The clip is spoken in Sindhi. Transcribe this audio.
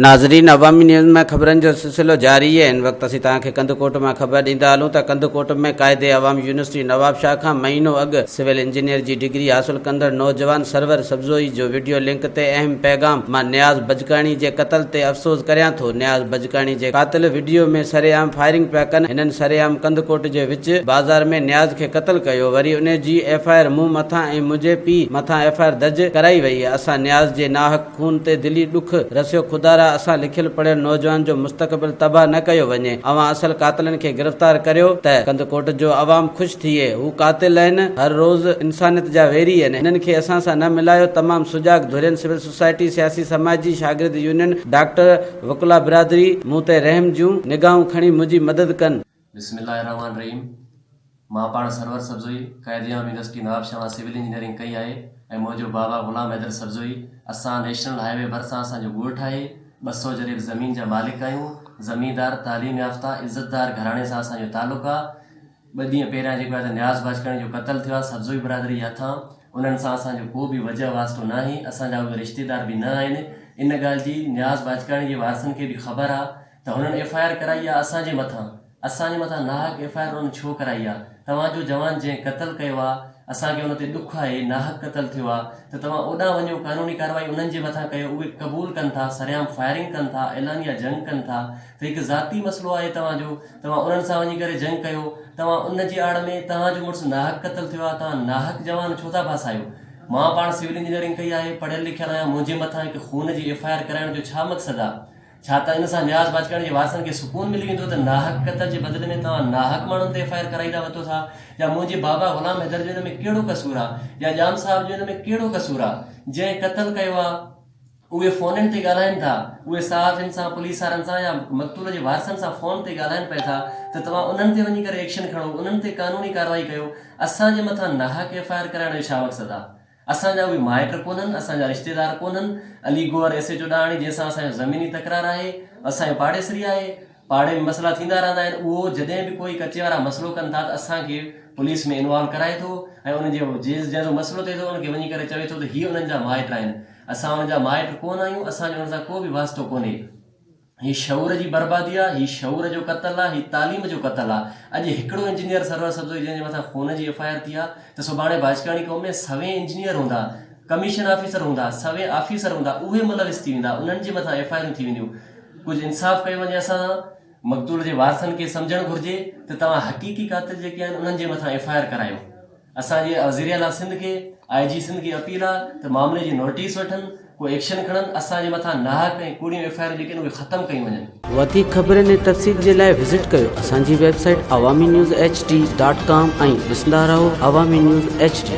ناظرين عوامي نيوز ۾ خبرن جو سلسلو جاري هي هن وقت اسين توهان کي ڪنڌڪوٽ مان خبر ڏيندا هلون ته ڪنڌڪوٽ ۾ قائد عوام يونيورسٽي نوابشاهه کان مهينو اڳ سول انجنيئر جي ڊگري حاصل ڪندڙ نوجوان سرور سبزوئي جو وڊيو لنڪ تي اهم پيغام مان نياز بجڪاڻي جي قتل تي افسوس ڪريان ٿو نياز بجڪاڻي جي قاتل وڊيو ۾ سرعام فائرنگ پيا ڪن هنن سرعام ڪنڌڪوٽ جي وچ بازار ۾ نياز کي قتل ڪيو وري انهي جي ايف آء آر مون مٿان ۽ منهنجي پيء مٿان ايف آء آر درج ڪرائي وئي اسان نياز جي ناحق خون تي دلي ڏک رسيو خدارا اسان لکيل پڙهيل نوجوان جو مستقبل تباھ نه ڪيو وڃي اوهان اصل قاتلن کي گرفتار ڪريو ته ڪنڌڪوٽ جو عوام خوش ٿئي هو قاتل اهن هر روز انسانيت جا ويري اهن هنن کي اسان سان نه ملايو تمام سجاڳ ڌرين سول سوسائٽي سياسي سماجي شاگرد يونين ڊاڪٽر وڪلا برادري مون تي رحم جون نگاهون کڻي منهنجي مدد ڪن. بسم الله الرحمٰن الرحيم مان پاڻ سرور سبزوئي قائديعام يونيورسٽي نوابشاهه مان سول انجنيئرنگ ڪئي آهي ۽ منهنجو بابا غلام حيدر سبزوئي اسان نيشنل هاء وي ڀرسان اسان جو ڳوٺ آهي ٻه سؤ جريب زمين جا مالڪ آهيون زميندار تعليم يافته عزتدار گهراڻي سان اسان جو تعلق آهي ٻه ڏينهن پهريان جيڪو آهي ته نياز باجڪاڻي جو قتل ٿيو آهي سبزوئي برادري جي هٿان انهن سان اسان جو ڪو به وجهه واسطو ناهي اسان جا اهي رشتيدار به نه آهن ان ڳالهه جي نياز باجڪاڻي جي وارثن کي به خبر آهي ته هنن ايف آء آر ڪرائي آ اسان جي مٿان اسان جي مٿان ناحق ايف آء آر انهن ڇو ڪرائي آ توهان جو جوان جنهن قتل ڪيو آ اسان کي ان تي ڏک آهي ناحق قتل ٿيو آ ته توهان اوڏانهن وڃو قانوني ڪارروائي انهن جي مٿان ڪيو اهي قبول ڪن ٿا سرعام فائرنگ ڪن ٿا اعلانيه جنگ ڪن ٿا ته هڪ ذاتي مسئلو آهي توهان جو توهان انهن سان وڃي ڪري جنگ ڪيو توهان ان جي آڙ ۾ توهان جو مڙس ناحق قتل ٿيو آ توهان ناحق جوان ڇو ٿا ڦاسايو مان پاڻ سول انجنيئرنگ ڪئي آهي پڙهيل لکيل آهيان منهنجي مٿان هڪ خون جي ايف آء آر ڪرائڻ جو ڇا مقصد آ ڇا ته ان سان نياز باجڪاڻي جي وارثن کي سڪون ملي ويندو ته ناحق قتل جي بدلي ۾ توهان ناحق ماڻهن تي ايف آء آر ڪرائيندا وتو ٿا يا منهنجي بابا غلام حيدر جو ان ۾ ڪهڙو قصور آ يا ڄام صاحب جو ان ۾ ڪهڙو قصور آ جنهن قتل ڪيو آ اهي فونن تي ڳالهائين ٿا اهي صحافين سان پوليس وارن سان يا مقتول جي وارثن سان فون تي ڳالهائين پئي ٿا ته توهان انهن تي وڃي ڪري ايڪشن کڻو انهن تي قانوني ڪارروائي ڪيو اسان جي مٿان ناحق ايف آء آر ڪرائڻ جو ڇا مقصد آ اسان جا اهي مائٽ ڪونهن، اسان جا رشتيدار ڪونهن، Ali Gohar S H O Dahani جنهن سان اسان جو زميني تڪرار آهي، اسان جو پاڙيسري آهي، پاڙي ۾ مسئلا ٿيندا رهندا آهن، اهو جڏهن به ڪوئي ڪچي وارا مسئلو ڪن ٿا ته اسان کي پوليس ۾ انوالو ڪرائي ٿو ۽ ان جي جنهنجو مسئلو ٿئي ٿو ان کي وڃي ڪري چوي ٿو ته هي انهن جا مائٽ آهن، اسان انهن جا مائٽ ڪونهن آهيون، اسان جو انهن سان ڪو به واسطو ڪونهي. هي شعور جي بربادي آ، هي شعور جو قتل آ، هي تعليم جو قتل آ. اڄ هڪڙو انجنيئر سرور سبزوئي جنهن جي مٿان خون جي ايف آء آر ٿي آ ته سڀاڻي باجڪاڻي قوم ۾ سوين انجنيئر هوندا، ڪميشن آفيسر هوندا، سوين آفيسر هوندا اهي ملوث ٿي ويندا، انهن جي مٿان ايف آء آرون ٿي وينديون. ڪجهه انصاف ڪيو وڃي اسان سان. مقتول جي وارثن کي سمجهڻ گهرجي ته توهان حقيقي قاتل جيڪي آهن انهن جي مٿان ايف آء آر ڪرايو. اسان جي وزير اعليٰ سنڌ کي آء جي سنڌ کي اپيل آ ته معاملي جي نوٽيس وٺن ڪو ايڪشن کڻن اسان جي مٿان ناحق ۽ ڪوڙيون ايف آء آرون جيڪي آهن اهي ختم ڪيون وڃن. وڌيڪ خبرن ۽ تفصيل جي لاء وزٽ ڪريو اسان جي website Awami news H D dot com ۽ ڏسندا رهو عوامي نيوز ايڇ ڊي.